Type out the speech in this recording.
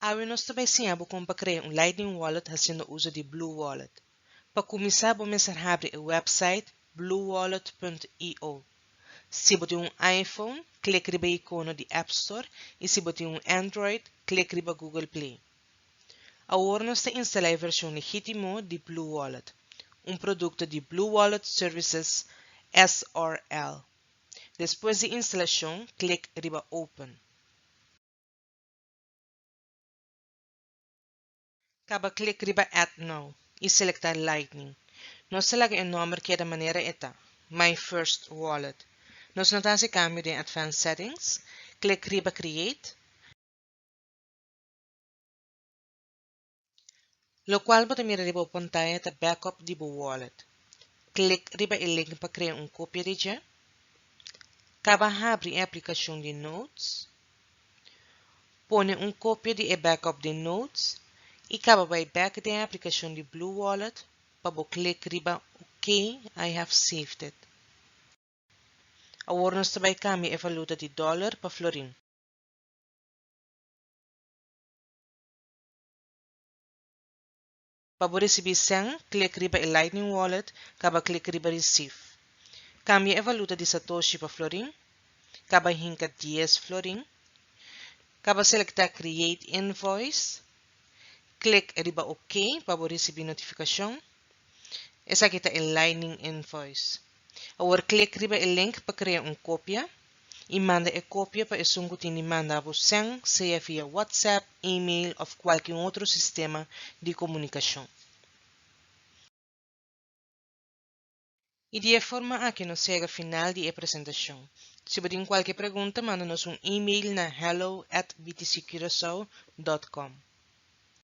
Awe nos ta bai siña bo kon pa krea un Lightning Wallet hasiendo uso di BlueWallet. Pa kuminsá bo mester habri e wèpsait bluewallet.io. Si bo tin un iPhone, klik riba e ikono di App Store i si bo tin un Android, klik riba Google Play. Awor nos ta instalá e vershon legítimo di Blue Wallet, un produkto di Blue Wallet Services S.r.l. Despues di instalashon, klik riba Open. Kaba klik riba Add Now i selektá Lightning. Nos ta laga e nòmber keda manera e ta, My First Wallet. Nos no ta hasi kambio den Advanced Settings. Klik riba Create. Locual bo ta mira riba bo pantaña ta backup di bo wallet. Click riba e link pa crea un copia di dje. Caba habri e aplicacion di Notes. Pone un copia di e backup den Notes y caba bay back den e aplicacion di BlueWallet pa bo click riba OK I have saved it. Awor nos ta bay cambia e valuta di dollar pa florin. Pa bo recibi cen, click riba e Lightning Wallet caba click riba Receive. Cambia e valuta di satoshi pa florin, caba hinca dies florin, caba selecta Create Invoice, click riba OK pa bo ricibi notificacion. Esaki ta e Lightning Invoice. Awor klik riba e link pa krea un kopia i manda e kopia pa esun ku tin di manda bo sèn, sea via WhatsApp, email òf kualke otro sistema di komunikashon. I di e forma aki nos yega final di e presentashon. Si bo tin kualke pregunta manda nos un email na hello at btccurasao dot com.